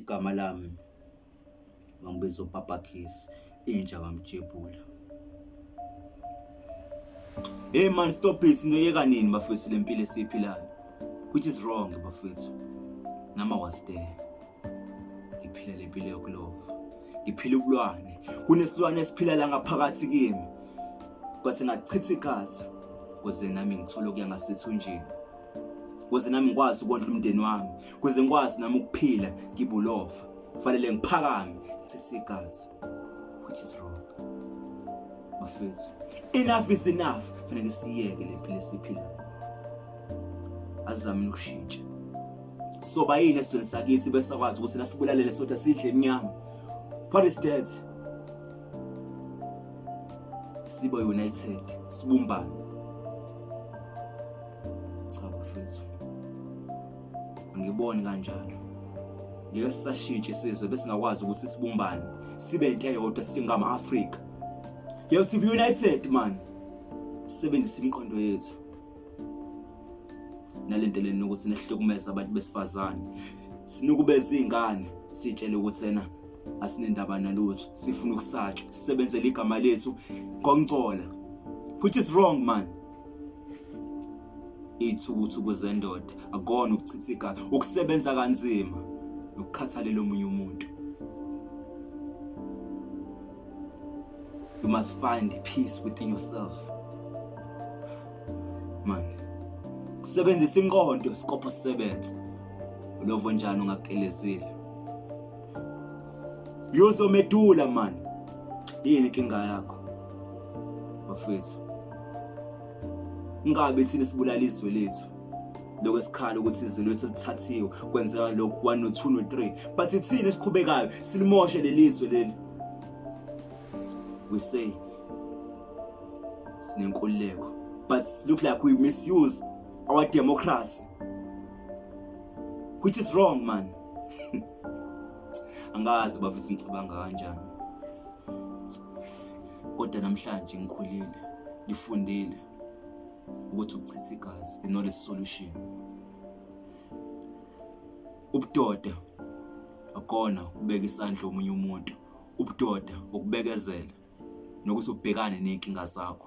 Igama lami bangibiza uPapa Kiss, inja kamjebula. Hey man stop it noyeka nini bafethu lempilo esiphilayo which is wrong bafethu. Nama was there. Ngiphila lempilo yokulova. Ngiphila ubulwane. Kunesilwane esiphila la ngaphakathi kimi. Kwase ngachitha igazi kuze nami ngithole okuya ngasethunjini. kuze nami ngikwazi ukondla umndeni wami kuze ngikwazi nami ukuphila ngibulova kufanele ngiphakame ngithethe igazi which is wrong bafethu enough is enough fanele siyeke le mpilo esiphilayo azame ukushintsha soba yini esizweni sakithi besakwazi ukuthi nasibulalele sodwa sidle emnyama what is that sibe united sibumbane cha bafethu ngiboni kanjalo ngeke sisashintshe isizwe besingakwazi ukuthi sibumbane sibe into eyodwa singama Africa yethu be united man sisebenzisa imiqondo yethu nalento leni ukuthi nehlukumeza abantu besifazane sinukubeza izingane sitshele ukuthi ena asinendaba nalutho sifuna ukusatshwa sisebenzele igama lethu ngongcola which is wrong man ithukuthuku zendoda akona ukuchitha igazi ukusebenza kanzima nokukhathalela omunye umuntu You must find peace within yourself. Man, kusebenzisa inqondo sikopho sisebenze. Ulovo njani ungakelezile? Yozomedula man. Yini inkinga yakho? Bafethu. Ingabe sine sibulala izwe lethu. lokho esikhala ukuthi izwi lethu lithathiwe kwenzeka lokhu 1 no 2 no 3 but ithini esiqhubekayo silimoshe lelizwe leli we say sinenkululeko but look like we misuse our democracy which is wrong man angazi bafisa ngicabanga kanjani kodwa namhlanje ngikhulile ngifundile ukuthi ukuchitha igazi is not a solution Ubudoda akona ukubeka isandla omunye umuntu. Ubudoda ukubekezela nokuthi ubhekane nezinkinga zakho.